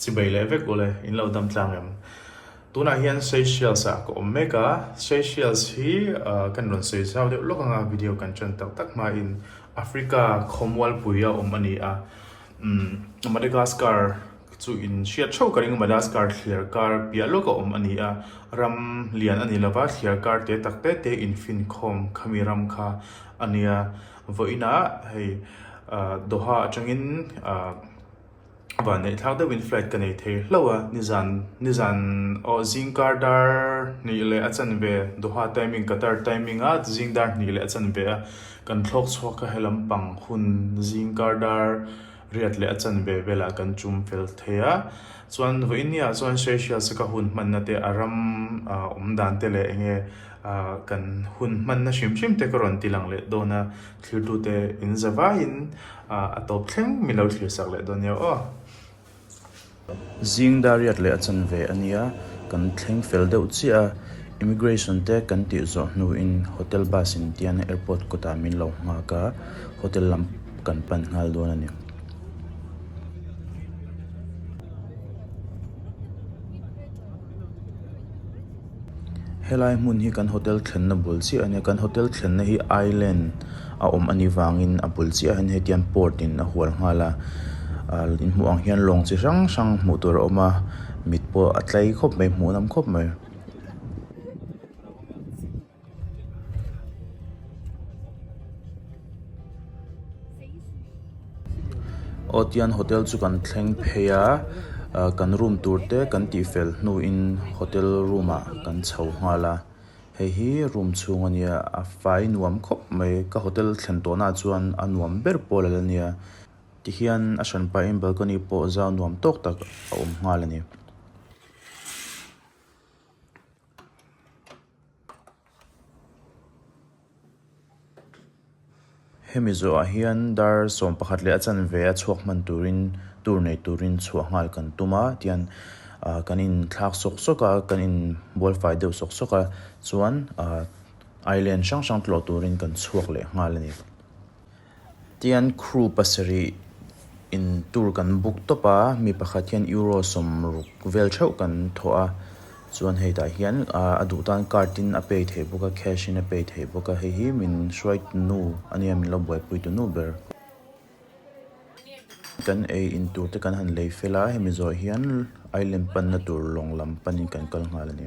Chi bei leh vek ule, in lo damtlang em? Tunah hian Seychelles ah ka awm mek a, Seychelles hi kan rawn sawi zau deuh lawk anga video kan ṭan tak tak hmain Africa khawmual pui a awm a ni a. Madagascar chu in hriat ṭheuh ka ring a, Madagascar thliar kar piah lawk a awm a ni a, ram lian a ni lo va, thliar kar te tak te te in finkhawm khami ram kha a nia. Vawiin ah hei Doha atangin van neih thlak deuhin flight ka nei thei hlauh a, nizan nizan aw zing kar dar hnih leh a chanve Doha timing Qatar timing a zing dar hnih leh a chanve a kan thlawk chhuak a helampang hun zing kar dar riat leh a chanve velah kan tum fel thei a, chuan vawiin ni ah chuan Seychelles a ka hun hmanna te a ram awmdan te leh enge. A kan hun hmanna hrim hrim te ka rawn ti lang leh dawn a, thiltute in za vaiin a tawp thleng min lo thlir sak leh dawn nia aw. Zing Dariat leh a chanve a nia, kan thleng fel deuh chiah a, Immigration te kan tih zawh hnuin Hotel bus in tian Airport kawtah min lo nghak a, Hotel lam kan pan nghal dawn a ni. Helai hmun hi kan hotel thlenna bul chiah a nia. Kan hotel thlenna hi island a awm a nih vangin a bul chiah hian hetiang port in a hual nghal a. Ahh in hmuh ang hian lawng chi hrang hrang hmuh tur a awm a. Mit pawh a tlai khawp mai hmuh lam khawp mai. Aw tian hotel chu kan thleng phei a ahh kan room tur te kan tihfel hnu in hotel room ah kan chho nghal a hei hi room chhung a nia a fai nuam khawp mai ka hotel thlen tawh na chuan a nuam ber pawh la la nia tihian a hran paih in balcony pawh zau nuam tawk tak a awm nghal a ni. Hemi zawhah hian dar sawm pakhat leh a chanve a chhuak hman turin tur nei turin chhuah nghal kan tum a, tihian kan inthlak sawk sawk a, kan inbualfai deuh sawk sawk a, chuan ailen hrang hrang tlawh turin kan chhuak leh nghal a ni. Tian crew pasarih in tur kan book tawp a, mi pakhat hian Euro sawm ruk vel theuh kan thawh a, chuan hei tah hian a duh tan card in a pay theih bawk a, cash in a pay theih bawk a, hei hi min hruai tu nu a nia, min lo buaipui tu nu ber. Kan ei in tur te kan han lei fel a, hemi zawh hian Island panna tur lawng lam pan in kan kal nghal a ni.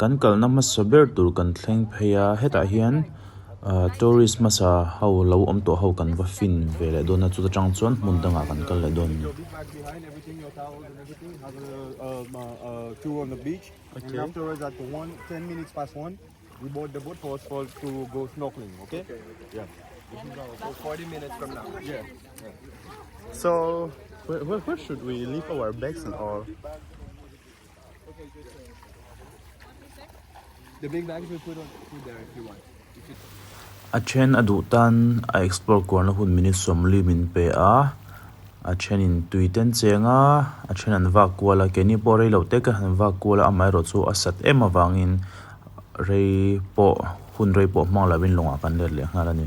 Kan kalna hmasa ber tur kan thleng phei a, hetah hian tourist hmasa ho lo awm tawh ho kan va fin ve leh dawn a, chuta tang chuan hmun dangah kan kal leh dawn a ni. A then a duh tan a explore kuarna hun min i sawmli min pe a, a thenin tui ten cheng a, a then an vak kual a, keini pawh rei lo te ka han vak kual a, amaherawh chu a sat em avangin rei pawh hun rei pawh hmang lovin lawngah kan let leh nghal a ni.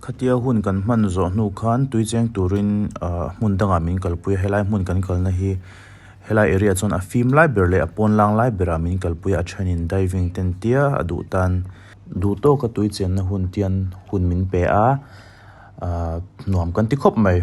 Khatia hun kan hman zawh hnu khan tuicheng turin hmun dangah min kalpui a, helai hmun kan kalna hi helai area chuan a fim lai ber leh a pawn lang lai berah min kalpui a, a thenin diving te entia a duh tan. Duh tawka tuichenna hun tian hun min pe a, nuam kan ti khawp mai.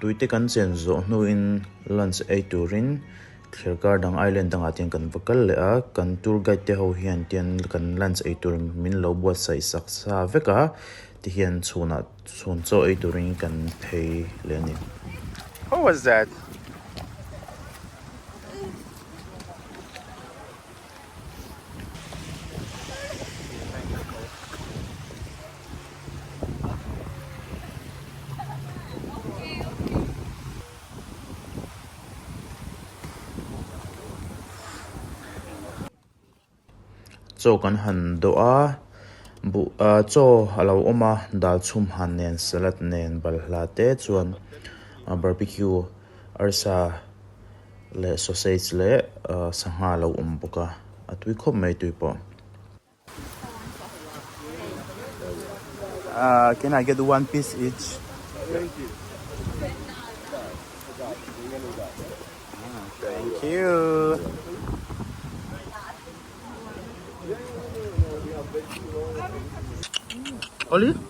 Tuite kan chen zawh hnuin lunch ei turin thlir kar dang island dangah tiang kan va kal leh a, kan tour guide te ho hian tian kan lunch ei tur min lo buatsaih saksa vek a ti hian chhunah chhun chaw ei turin kan phei leh a ni. How was that? Chaw kan han dawh a, buh a chaw a lo awm a, dal chhum han nen, salad nen, balhla te chuan barbecue arsa Leh sausage leh sangha a lo awm bawk a, a tui khawp mai tui pawh. Can I get one piece each? Thank you. Thank you. Oli?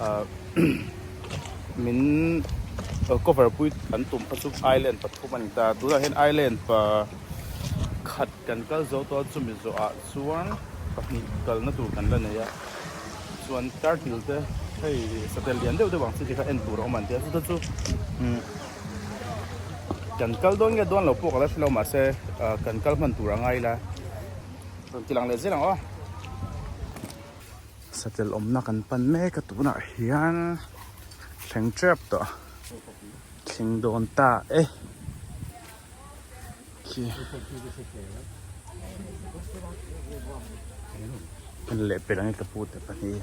Ahh min cover pui kan tum kha chu island pathum a ni ta a, tunah hian island pa khat kan kal zo tawh a, chumi zawhah chuan pahnih kalna tur kan la nei a, chuan turtle te hei satel lian deuh deuh ang chi te kha en tur a awm ang tia, chuta chu umm kan kal dawn nge dawn lo pawh ka la hre lo mahse ahh kan kal hman tur a ngai ila rawn ti lang leh zel ang aw. Satel awmna kan pan mek a tunah hian thleng tep tawh thleng dawn ta e. Ken leh pelh ang i ka pute pahnih.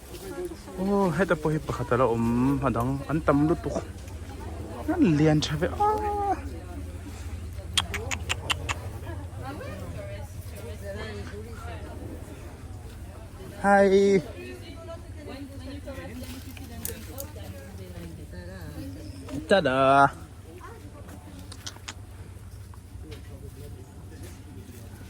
Aw heta pawh hi pakhat ala awm a dang an tam lutuk an lian tha ve a Hi Tada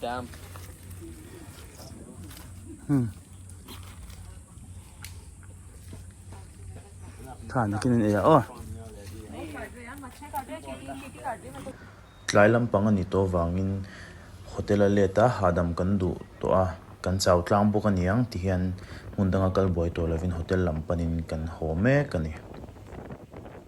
Dam. Hmm. Tha na kin e o. Tlai lampang ani to vangin hotel a let a hahdam kan duh tawh a kan chau tlang bawk a niang ti hian hmun danga kal buai tawh lovin hotel lam panin kan haw mek a ni.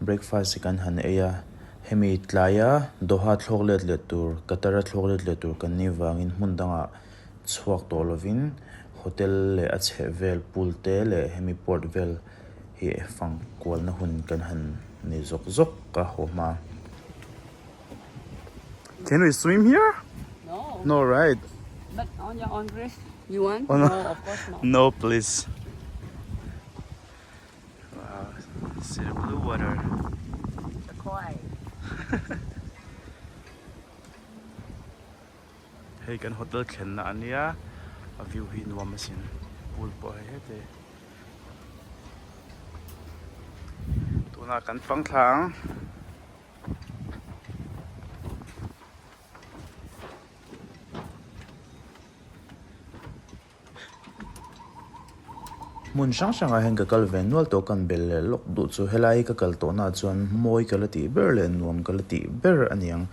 Breakfast hi kan han ei a, hemi tlaia Doha thlawk let leh tur, Qatar a thlawk let leh tur kan nih vangin hmun dangah chhuak tawh lovin hotel leh a chheh vel pool te leh hemi port vel hi fang kualna hun kan han nei zawk zawk a haw hma. Can we swim here? No. No right? But on your own risk. You want? No of course not. No please. Hei kan hotel thlenna a nia a view hi nuam a sin pool pawh hei hete tuna kan pang thlang Hmun hrang hrangah hian ka kal ve nual tawh kan bel leh lawk duh chu helai hi ka kal tawhnaah chuan mawi ka la tih ber leh nuam ka la tih ber a niang.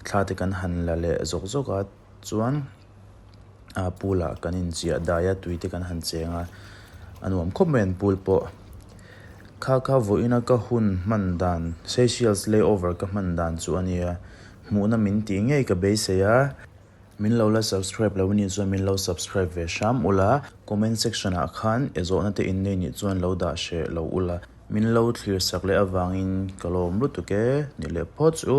Thla te kan han la leh zawk zawkah chuan a pool ah kan inchiah dai a, tui te kan han cheng a, a nuam khawp mai an pool pawh. Kha kha vawiina ka hun hman dan Seychelles layover ka hman dan chu a nia, hmuhna min tih ngei ka beisei a. Min lo la subscribe lo ni chuan min lo subscribe ve hram ula, comment section ah khan e zawhna te in nei nih chuan lo dah hreh lo ula, min lo thlir sak leh avangin ka lawm lutuk e, ni leh pawt chu.